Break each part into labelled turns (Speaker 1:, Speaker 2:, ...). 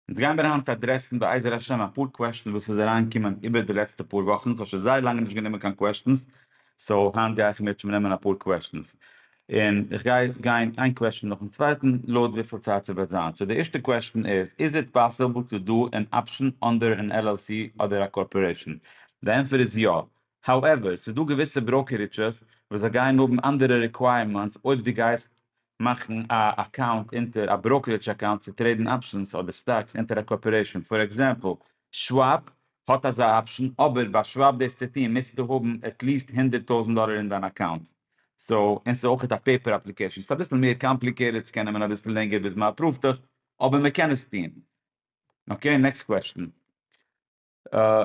Speaker 1: אונז גיימיר היינט אדרעסן בעזר השם אפאר קוועשטענס וואס איז אריין געקומען איבער די לעצטע פאר וואכן, כ'האב שוין זייער לאנג נישט גענומען קיין קוועשטענס, סאו היינט גיי איך מיטשע נעמען אפאר קוועשטענס, און איך גיי גיין איין קוועשטען נאכן צווייטן לויט וויפיל צייט ס'וועט זיין, סאו די ערשטע קוועשטען איז, איז איט פאסעבל טו דא ען אפשען אנדער ען LLC אדער א קארפארעישען? די ענפער איז יא, האועווער ס'איז דא געוויסע בראוקעריטשעס וואס זיי גייען האבן אנדערע ריקווייערמענטס אויב דו גייסט מאכן א אקאונט אונטער א בראוקערידזש אקאונט צו טרעידן אפשענס אדער סטאקס אונטער א קארפארעישאן, פאר עקזעמפל שוואב האט אזא אפשען, אבער ביי שוואב דאס צו טון מוזטו האבן עטליעסט הונדערט טויזנט דאלער אין דיין אקאונט, סאו און ס'איז אויכעט א פעיפער אפליקעישאן, ס'איז אביסל מער קאמפליקעיטעד, ס'קען נעמען אביסל לענגער ביז מ'אפראווט דיך, אבער מ'קען עס טון. אקעי נעקסט קוועשטען.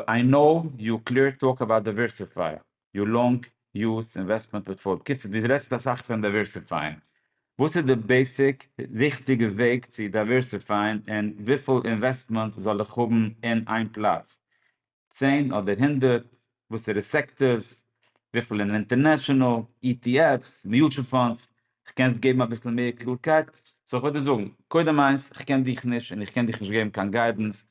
Speaker 1: איי קנאו יו קלער טאלק אבאוט דייווערסיפייען יור לאנג יוז אינוועסטמענט פארטפאליע, בקיצור דו רעדסט אסאך פון דייווערסיפייען, וואס איז די בעיסיק ריכטיגע וועג צו דייווערסיפייען און וויפיל אינוועסטמענט זאל איך האבן אין איין פלאץ, צען אדער הונדערט, וואסערע סעקטארס, וויפיל אין אינטערנעשאנעל, אי טי עף'ס, מיוטשעל פאנדס, קענסט געבן אביסל מער קלארקייט? סאו איך וועל דיר זאגן, קודם איינס, איך קען דיך נישט און איך קען דיך נישט געבן קיין גיידענס,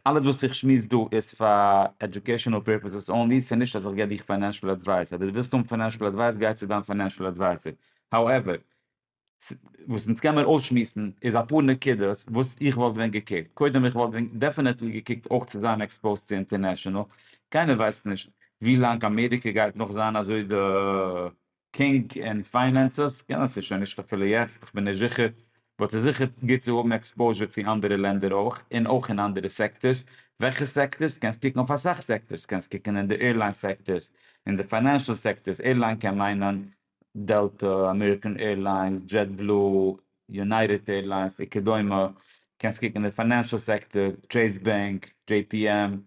Speaker 1: אלעס וואס איך שמועס דא איז פאר עדיוקעישאנעל פערפעסעס אנלי, ס'איז נישט אז איך גיב דיך פיינענשעל עדווייס, אדער די ווילסט האבן פיינענשעל עדווייס גיי צו דיין פיינענשעל עדווייזער, האועווער, וואס אונז קען מיר אויסשמועסן איז אפאר נקודות וואס איך וואלט ווען געקוקט, קודם איך וואלט ווען דעפענעטלי געקוקט אויך צו זיין עקספאוזט צו אינטערנעשאנעל, קיינער ווייסט נישט ווי לאנג אמעריקע גייט נאך זיין אזוי די קינג אין פיינענסעס קען עס שוין נישט אפילו יעצט איך בין נישט זיכער באט ס'איז זיכער גוט צו האבן עקספאוזשער צו אנדערע לענדער אויך און אויך אין אנדערע סעקטארס וועלכע סעקטארס קענסט קוקן אויף אסאך סעקטארס קענסט קוקן אין די עירליין סעקטארס אין די פיינענשעל סעקטארס עירליין קען מיינען דעלטא אמעריקען עירליינס דזשעט בלו יונייטעד עירליינס וכדומה קענסט קוקן אין די פיינענשעל סעקטאר טשעיס בענק דזשעי פי עם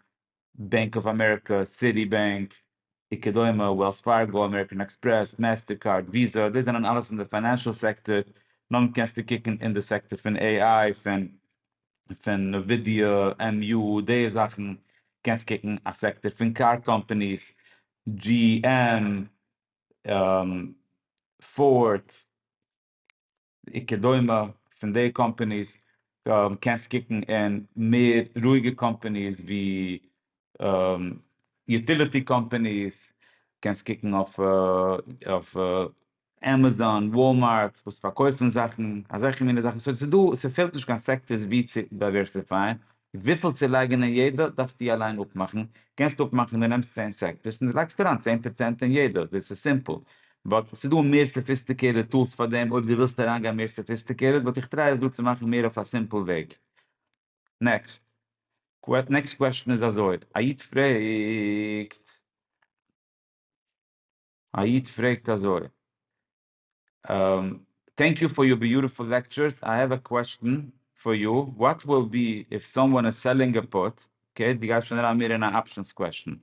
Speaker 1: בענק אוו אמעריקא, סיטי בענק, וכדומה, וועלס פארגא, אמעריקען עקספרעס, מעסטער קארד, וויזא, דאס זענען אלעס אין די פיינענשעל סעקטאר, נאכדעם קענסטו קוקן אין די סעקטאר פון עי איי, פון פון נווידיא, עמ יו, די זאכן, קענסט קוקן א סעקטאר פון קאר קאמפאניס, דזשי עם, פארד. און כדומה פון די קאמפעניס קענסט קוקן אין מער רואיגע קאמפעניס ווי יוטיליטי קאמפעניס, קענסט קוקן אויף עמעזאן, וואלמארט וואס פארקויפן זאכן, אזעלכע מיני זאכן, סאו ס'איז דא, ס'פעלט נישט קיין סעקטערס ווי צו דייווערסיפייען, וויפיל צו לייגן אין יעדע דארפסטו אליין אפמאכן, קענסט אפמאכן דו נעמסט צען סעקטארס און דו לייגסט אריין צען פראצענט אין יעדע, דאס איז סימפל, באט ס'איז דא מער סאפיסטיקעיטעד טולס פאר דעם, אויב דו ווילסט אריינגיין מער סאפיסטיקעיטעד וואלט איך טריי עס דא צו מאכן מער אויף א סימפל וועג. נעקסט קוועשן איז אזוי, א איד פרעגט א איד פרעגט אזוי, טענק יו פאר יור ביוטיפול לעקטשורס, איי העוו א קוועשטען פאר יו, וואט וויל בי איף סאמוואן איז סעללינג א פוט, אקעי דו גייסט שוין אריין מער אין א אפשענס קוועשטען,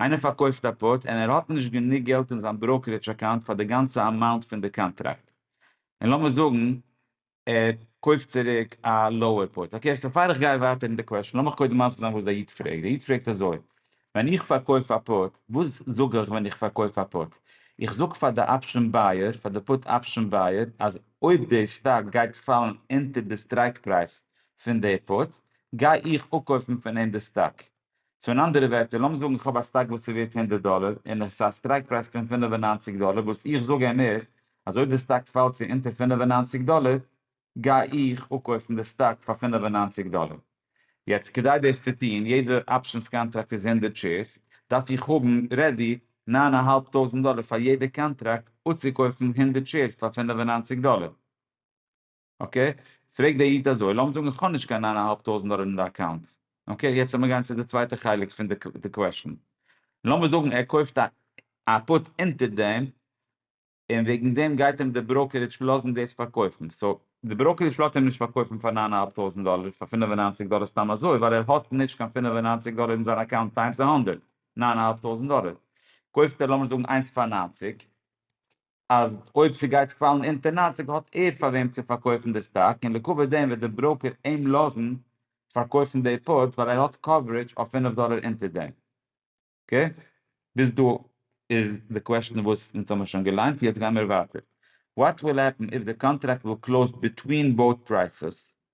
Speaker 1: איינער פארקויפט א פוט און ער האט נישט גענוג געלט אין זיין בראוקערידזש אקאונט פאר די גאנצע אמאונט פון די קאנטראקט, און לאמיר זאגן ער קויפט צוריק א לאוער פארט. אקעי, סאו פאר איך גיי ווייטער אין די קוועשאן, לאמיך קודם מסביר זיין וואס דער איד פרעגט. דער איד פרעגט אזוי, ווען איך פארקויף א פארט, וואס זאג איך ווען איך פארקויף א פארט? איך זאג פאר די אפשען בייער, פאר די פארט אפשען בייער, אז אויב דער סטאק גייט פאלן אונטער די סטרייק פרייז פון דער פארט, גיי איך אפקויפן פון אים די סטאק. סאו אין אנדערע ווערטער, לאמיר זאגן איך האב א סטאק וואס איז ווערט הונדערט דאלער, און עס איז א סטרייק פרייז פון פֿינף און נײַנציק דאלער, וואס איך זאג אים איז, אז אויב די סטאק פאלט צו אונטער פֿינף און נײַנציק דאלער, גיי איך אפקויפן די סטאק פאר פֿינף און נײַנציק דאלער. יעצט כדי דאס צו טון, יעדע אפשענס קאנטראקט איז הונדערט שעירס, דארף איך האבן רעדי נײַן אהאלב טויזנט דאלער פאר יעדע קאנטראקט אפצוקויפן הונדערט שעירס פאר פֿינף און נײַנציק דאלער. אקעי, פרעגט דער איד אזוי, לאמיר זאגן איך האב נישט קיין ניין אהאלב טויזנט דאלער אין די אקאונט, אקעי, יעצט לאמיר גיין צו די צווייטע חלק פון די קוועשן, לאמיר זאגן ער קויפט א א פוט אונטער דעם, און וועגן דעם גייט אים די בראקערידזש לאזן דאס פארקויפן, סאו, די בראקערידזש לאזט אים נישט פארקויפן פאר ניין אהאלב טויזנט דאלער, פאר פינף און ניינציג דאלער סתם אזוי, ווייל ער האט נישט קיין פינף און ניינציג דאלער אין זיין אקאונט טיימס א הונדערט, ניין אהאלב טויזנט דאלער, קויפט ער לאמיר זאגן איינס פאר ניינציג, אז אויב ס'גייט פאלן אונטער נײַנציק האט ער פאר וועם צו פארקויפן די סטאק און לעקאווע דעם וועט די בראוקער אים לאזן פארקויפן די פאוטס ווייל ער האט קאווערעדזש אויף פֿינף דאלער אונטער דעם. אקעי? ביז דא איז די קוועשן וואס אונז האמיר שוין געליינט, יעצט גיימיר ווייטער. וואט וויל העפן איף די קאנטראקט וויל קלאוזד ביטווין באוט פרייסעס?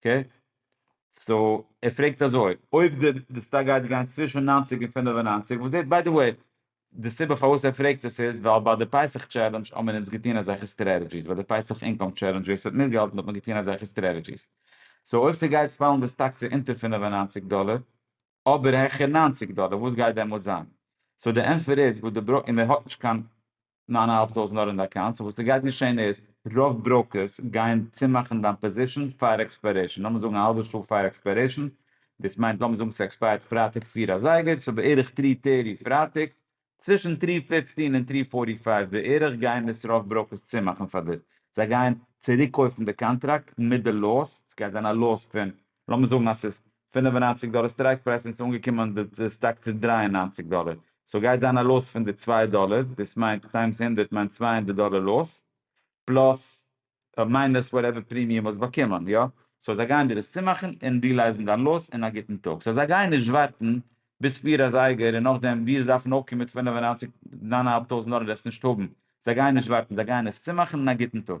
Speaker 1: אקעי, סאו ער פרעגט אזוי, אויב די די סטאק גייט גיין צווישן נײַנציק און פֿינף און נײַנציק, וואס די ביי די וועי, די סיבה פארוואס ער פרעגט עס איז ווייל ביי די פסח טשעלענדזש האבן מיר אונז געטון אזעלכע סטרעטעדזשיס, ביי די פסח אינקאם טשעלענדזש ווער ס'האט מיטגעהאלטן האט מען געטון אזעלכע סטרעטעדזשיס, סאו אויב ס'גייט פאלן די סטאק צו אונטער פֿינף און נײַנציק דאלער, אבער העכער נײַנציק דאלער, וואס גייט דעמאלטס זיין? סאו די ענפער איז וואס די בראו, און ער האט נישט קיין נײַן אַ האַלב טויזנט נאר אין די אקאונט, סאו וואס ס'גייט געשען איז, רוב בראוקערס גייען צומאכן דיין פאזישן פאר עקספיירעישן, לאמיר זאגן א האלבע שעה פאר עקספיירעישן, דאס מיינט לאמיר זאגן ס'עקספייערט פרייטאג פֿיר אזייגער, סאו בערך טרי טערטי פרייטאג, צווישן טרי פיפטין און טרי פארטי פייוו בערך גייען עס רוב בראוקערס צומאכן פאר דיר, זיי גייען צוריקקויפן די קאנטראקט מיט די לאס, ס'גייט זיין א לאס פון לאמיר זאגן אז ס'איז פֿינף און נײַנציק דאלער סטרייק פרייז און ס'איז אנגעקומען די סטאק צו דרײַ און נײַנציק דאלער, סאו גייט זיין א לאס פון די צוויי דאלער, דאס מיינט טיימס הונדערט מיינט צוויי הונדערט דאלער לאס, פלאס און מיינוס וואטעווער פרימיום האסט באקומען, יא? סאו זיי גייען דיר עס צומאכן און רילייזן דיין לאס אין א גוטן טאג, סאו זיי גייען נישט ווארטן ביז פֿיר אזייגער און נאכדעם דיר דארפן אויפקומען מיט פֿינף און נײַנציק נײַן אהאלב טויזנט דאלער און עס נישט האבן, זיי גייען נישט ווארטן, זיי גייען עס צומאכן אין א גוטן טאג.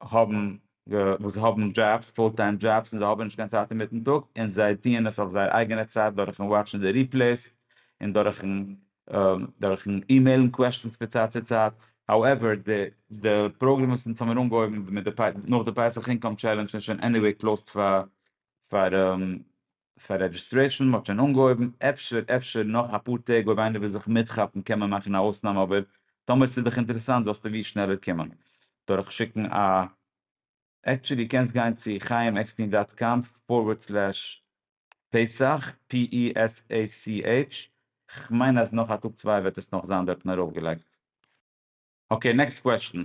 Speaker 1: האבן וואס האבן דזשאבס, פול טיים דזשאבס, און זיי האבן נישט קיין צייט אינמיטן טאג, און זיי טוען עס אויף זייער אייגענע צייט דורכ'ן וואטשן די ריפלעיס, און דורכ'ן דורכ'ן אימעילן קוועשטענס פון צייט צו צייט, האועווער די די פראגרעם וואס אונז האבן מיר אנגעהויבן מיט די נאך די פסח אינקאם טשעלענדזש איז שוין עניוועי קלאוזט פאר פאר פאר רעדזשיסטרעישאן, מ'האט שוין אנגעהויבן, אפשר אפשר נאך אפאר טעג אויב איינער וויל זיך מיטכאפן קען מען מאכן א אויסנאם אבער טאמער ס'איז דיך אינטערעסאנט זאלסטו ווי שנעלער קומען דורך שיקן א עקטשעלי קענסט גיין צו חיים עקסטין דאט קאם פארווערד סלעש פסח פ אי עס עי סי עיטש כ'מיין אז נאך א טאג צוויי וועט עס נאך זיין דארטן ארויפגעלייגט. אקעי נעקסט קוועשטען.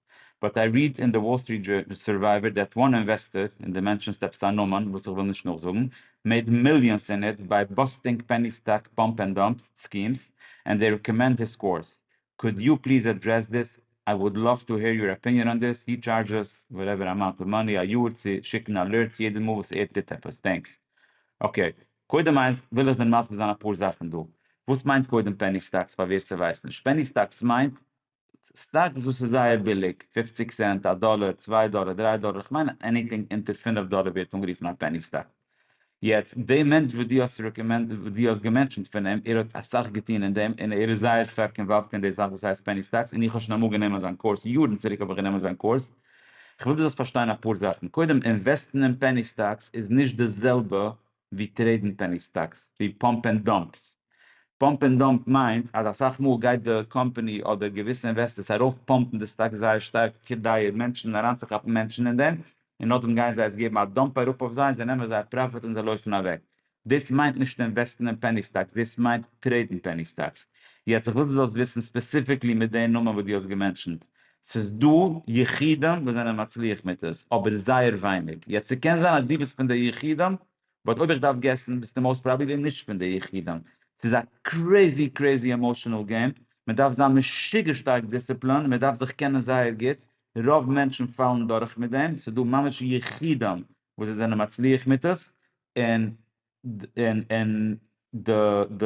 Speaker 1: באט איי ריעד אין די וואל סטריט זשורנאל סורווייווער דעט וואן אינוועסטאר, און די מענטשן סטעפ סאן נאמען וואס איך וויל נישט נאכזאגן, מעיד מיליאנס אין איט ביי באסטינג פעני סטאק פאמפ ענד דאמפ סקימס, ענד דעי רעקאמענד היס קאורס. קאוד יו פליז עדרעס דיס? איי וואלד לאוו טו העיר יור אפיניען אן דיס. הי טשארדזשעס וואטעווער אמאונט אוו מאני א יאר צו שיקן אלערטס יעדע מאל וואס ער טוט עפעס. טענקס. אקעי. קודם איינס וויל איך דיר מסביר זיין אפאר זאכן דא. וואס מיינט קודם פעני סטאקס פאר ווער ס'ווייסט נישט. פעני סטאקס מיינט סטאקס וואס איז זייער ביליג, פופציג סענט, א דאלער, צוויי דאלער, דריי דאלער, כ'מיין עניטינג אונטער פינף דאלער ווערט אנגערופן א פעני סטאק. יעצט, די מענטש וואס דו האסט רעקאמענד, וואס דו האסט געמענטשענט פון אים, ער האט אסאך געטון אין דעם, און ער איז זייער שטארק אינוואלווד אין די זאך וואס הייסט פעני סטאקס, און איך האב שוין אמאל גענומען אזאן קורס, יארן צוריק האב איך גענומען אזאן קורס. כ'וויל דו זאלסט פארשטיין אפאר זאכן. קודם, אינוועסטן אין פעני סטאקס איז נישט די זעלבע ווי טרעידן פעני סטאקס, ווי פאמפ ענד דאמפס. פאמפ ענד דאמפ מיינט אז אסאך מאל גייט די קאמפאני אדער געוויסע אינוועסטערס ארויף פאמפן די סטאקס זייער שטארק כדי מענטשן אריינצוכאפן מענטשן אין דעם, און נאכדעם גייען זיי עס געבן א דאמפ אראפ אויף זיי, זיי נעמען זייער פראפיט און זיי לויפן אוועק. דאס מיינט נישט אינוועסטן אין פעני סטאקס, דאס מיינט טרעידן פעני סטאקס. יעצט איך וויל דו זאלסט וויסן ספעסיפיקלי מיט די נאמען וואס דו האסט געמענטשענט, ס'איז דא יחידים וואס זענען מצליח מיט עס, אבער זייער ווייניג. יעצט ס'קען זיין אז דו ביסט פון די יחידים, באט אויב איך דארף געסן ביסטו מאוסט פראבעבלי נישט פון די יחידים. ס'איז א קרעזי קרעזי עמאשענעל געים, מען דארף זיין משוגע שטארק דיסציפלין און מען דארף זיך קענען זייער גוט, רוב מענטשן פאלן דורך מיט דעם, ס'איז דא ממש יחידים וואס זיי זענען מצליח מיט עס, און און די די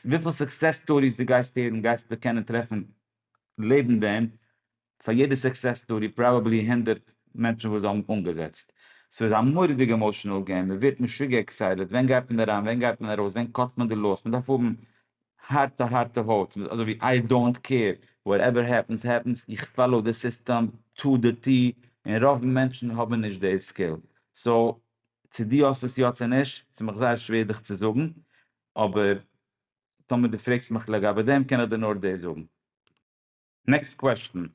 Speaker 1: וויפיל סוקסעס סטאריס דו גייסט הערן גייסטו קענען טרעפן לעבן דעם, פאר יעדע סוקסעס סטארי פראבעבלי הונדערט מענטשן וואס האבן אנגעזעצט. ס'איז א מורא'דיגע עמאשענעל געים, מ'ווערט משוגע עקסייטעד, ווען גייט מען אריין, ווען גייט מען ארויס, ווען קאט מען די לאוס, מ'דארף האבן הארטע הארטע הויט, אזוי ווי איי דאונט קעיר, וואטעווער העפענס העפענס, איך פאלאו די סיסטעם טא די טי, און רוב מענטשן האבן נישט די סקיל. סאו, צו דו האסט עס יא צו נישט, ס'איז מיך זייער שווער דיך צו זאגן, אבער טאמער דו פרעגסט מיך לגבי דעם קען איך דיר נאר דאס זאגן. נעקסט קוועשטען.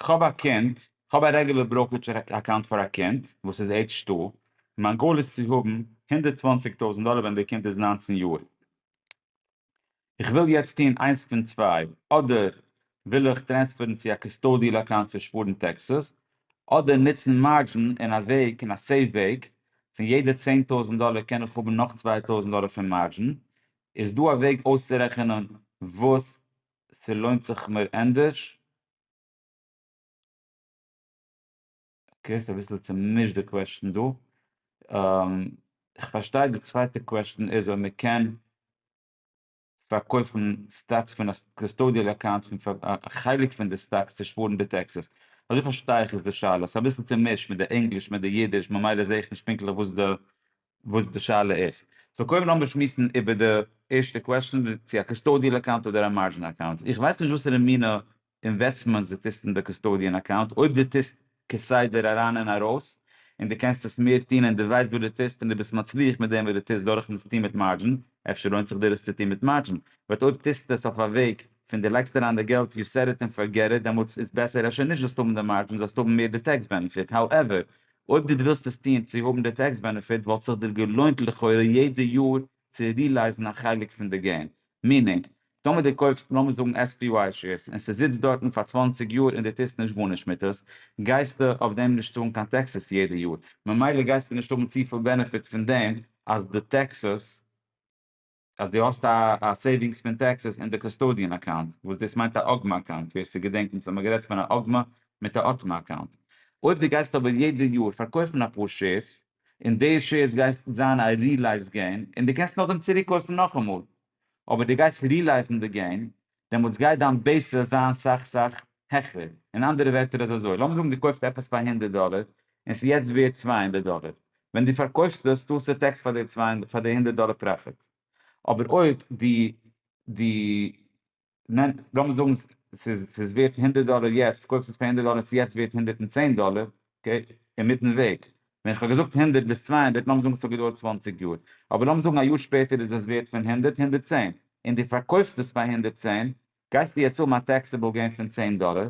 Speaker 1: כ'האב א קינד, כ'האב א רעגולער בראוקעדזש אקאונט פאר א קינד וואס איז עידזש טו, און מיין גאול איז צו האבן הונדערט צוואַנציק טויזענט דאלער ווען די קינד איז נײַנצן יאר. איך וויל יעצט טון איינס פון צוויי, אדער וויל איך טרענספערן צו א קוסטאדיעל אקאונט צו שפארן טעקסעס, אדער נוצן מארדזשין אין א וועג, אין א סעיף וועג, פון יעדע צען טויזנט דאלער קען איך האבן נאך צוויי טויזנט דאלער פון מארדזשין, איז דא א וועג אויסצורעכענען וואס ס'לוינט זיך מיר ענדערש? אקעי, ס'איז אביסל צומישט די קוועשטן דא. איך פארשטיי די צווייטע קוועשטן איז אויב מ'קען. פארקויפן סטאקס פון א קאסטאדיעל אקאונט פון פאר א חלק פון די סטאקס צו שפארן די טעקסעס. אזוי פארשטיי איך איז די שאלה. ס'איז אביסל צומישט מיט די ענגליש מיט די אידיש ממילא זעה איך נישט פונקטליך וואס די וואס די שאלה איז. סאו קודם לאמיר שמועסן איבער די ערשטע קוועשאן צו א קאסטאדיעל אקאונט אדער א מארדזשין אקאונט. איך ווייס נישט וואסערע מינע אינוועסטמענטס די טוסט אין די קאסטאדיען אקאונט אויב די טוסט כסדר אריין און ארויס און די קענסט עס מער טון און די ווייסט וואס די טוסט און די ביסט מצליח מיט דעם וואס די טוסט דורכן עס טון מיט מארדזשין אפשר לוינט זיך דיר עס צו טון מיט מארדזשין באט אויב טוסט עס אויף א וועג פון די לייגסט אריין די געלט יו סעט איט און פארגעט איט דעמאלטס איז בעסער אפשר נישט זאלסט האבן די מארדזשין זאלסט האבן מער די טעקס בענעפיט האועווער אויב די ווילסט עס טון צו האבן די טעקס בענעפיט וואלט זיך דיר געלוינט לכאורה יעדע יאר צו רילייזן א חלק פון די געים. מיענינג, טאמער דו קויפסט לאמיר זאגן SPY שעירס און ס'זיצט דארטן פאר צוואַנציק יאר און דו טוסט נישט גארנישט מיט עס, גייסטו אויף דעם נישט צאלן קיין טעקסעס יעדע יאר, ממילא גייסטו נישט האבן צופיל בענעפיט פון דעם אז די טעקסעס, אז דו האסט א סעיווינגס פון טעקסעס אין די קאסטאדיען אקאונט, וואס דאס מיינט א אגמא אקאונט, ווער ס'געדענקט אונז האמיר גערעדט פון א אגמא מיט א אטמא אקאונט. אויב דו גייסט אבער יעדע יאר פארקויפן אפאר שעירס, און די שעירס גייסט זיין א רילייזד געין, און די קענסט נאכדעם צוריק קויפן נאכאמאל, אבער די גייסט רילייזן די געין, דעמאלטס גייט דיין בעיסס זיין סאך סאך העכער, אין אנדערע ווערטער איז אזוי, לאמיר זאגן די קויפסט עפעס פאר הונדערט דאלער, און ס'איז יעצט ווערט צוויי הונדערט דאלער, ווען די פארקויפסט עס צאלסטו טעקס פאר די הונדערט דאלער פראפיט, אבער אויב די די נעמט, לאמיר זאגן ס'איז ס'איז ווערט הונדערט דאלער יעצט, קויפסט עס פאר הונדערט דאלער און ס'איז יעצט ווערט הונדערט און צען דאלער, אקעי, אינמיטן וועג, ווען איך האב געזאגט הונדערט ביז צוויי הונדערט, לאמיר זאגן ס'האט געדויערט צוואַנציק יאר, אבער לאמיר זאגן א יאר שפעטער איז עס ווערט פון הונדערט, הונדערט צען, און דו פארקויפסט עס פאר הונדערט צען, גייסטו יעצט האבן א טעקסעבל געין פון צען דאלער,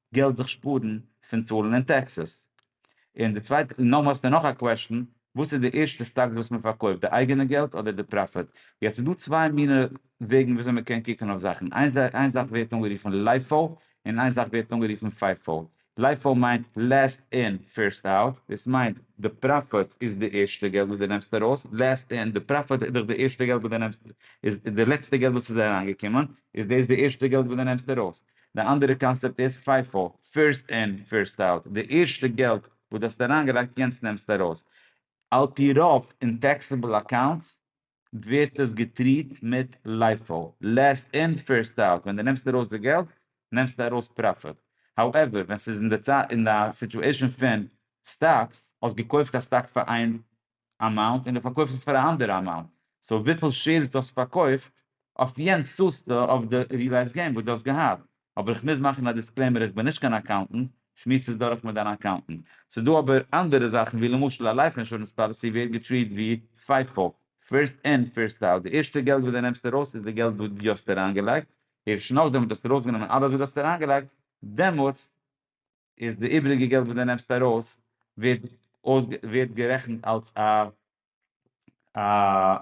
Speaker 1: געלט זיך שפארן פון צאלן אין טעקסעס. און די צווייטע, נאר האסטו נאך א קוועשן, וואס איז די ערשטע סטאקס וואס מען פארקויפט, די אייגענע געלט אדער די פראפיט? יעצט איז דא צוויי מינע וועגן וויאזוי מען קען קוקן אויף זאכן, איין זאך ווערט אנגערופן לייפאו און איין זאך ווערט אנגערופן פייפאו. לייפאו מיינט לעסט אין פירסט אוט, דאס מיינט די פראפיט איז די ערשטע געלט וואס דו נעמסט ארויס, לעסט אין, די פראפיט איז דאך די ערשטע געלט וואס דו נעמסט, איז די לעצטע געלט וואס איז אריינגעקומען, איז דאס די ערשטע געלט וואס דו נעמסט ארויס. די אנדערע קאנסעפט איז פיפא, פירסט אין פירסט אוט, די ערשטע געלט וואס די האסט אריינגעלייגט יענץ נעמסטו ארויס. על פי רוב אין טעקסעבל אקאונטס ווערט עס געטריעט מיט לייפאו, לעסט אין פירסט אוט, ווען די נעמסט ארויס די געלט נעמסטו ארויס פראפיט. האועווער ווען ס'איז אין די סיטועשן פון סטאקס, האסט געקויפט א סטאק פאר איין אמאונט און די פארקויפסט עס פאר א אנדערע אמאונט, סאו וויפיל שעירס די האסט פארקויפט אויף יענץ צאלסטו אויף די ריעלייזד געין וואס די האסט געהאט, אבער איך מוז מאכן א דיסקלעימער איך בין נישט קיין אקאונטענט, שמועס עס דורך מיט דיין אקאונטענט. ס'איז דא אבער אנדערע זאכן ווי למשל א לייף אינשורענס פאליסי ווערט געטריעט ווי פיפא, פירסט אין פירסט אוט, די ערשטע געלט וואס די נעמסט ארויס איז די געלט וואס די האסט אריינגעלייגט, ערשט נאכדעם וואס די האסט ארויסגענומען אלעס וואס די האסט אריינגעלייגט דעמאלטס, איז די איבריגע געלט וואס די נעמסט ארויס ווערט ווערט גערעכנט אלס א א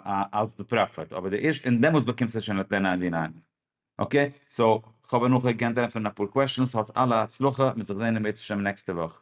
Speaker 1: א אלס די פראפיט אבער די ערשט און דעמאלטס באקומסטו שוין אט דען די ניין אקעי סאו כ'האב אנכי גענט ענטפערן אפאר קוועשאנס האטס אלע הצלחה מ'זיך זעהן אם ירצה השם נעקסטע וואך.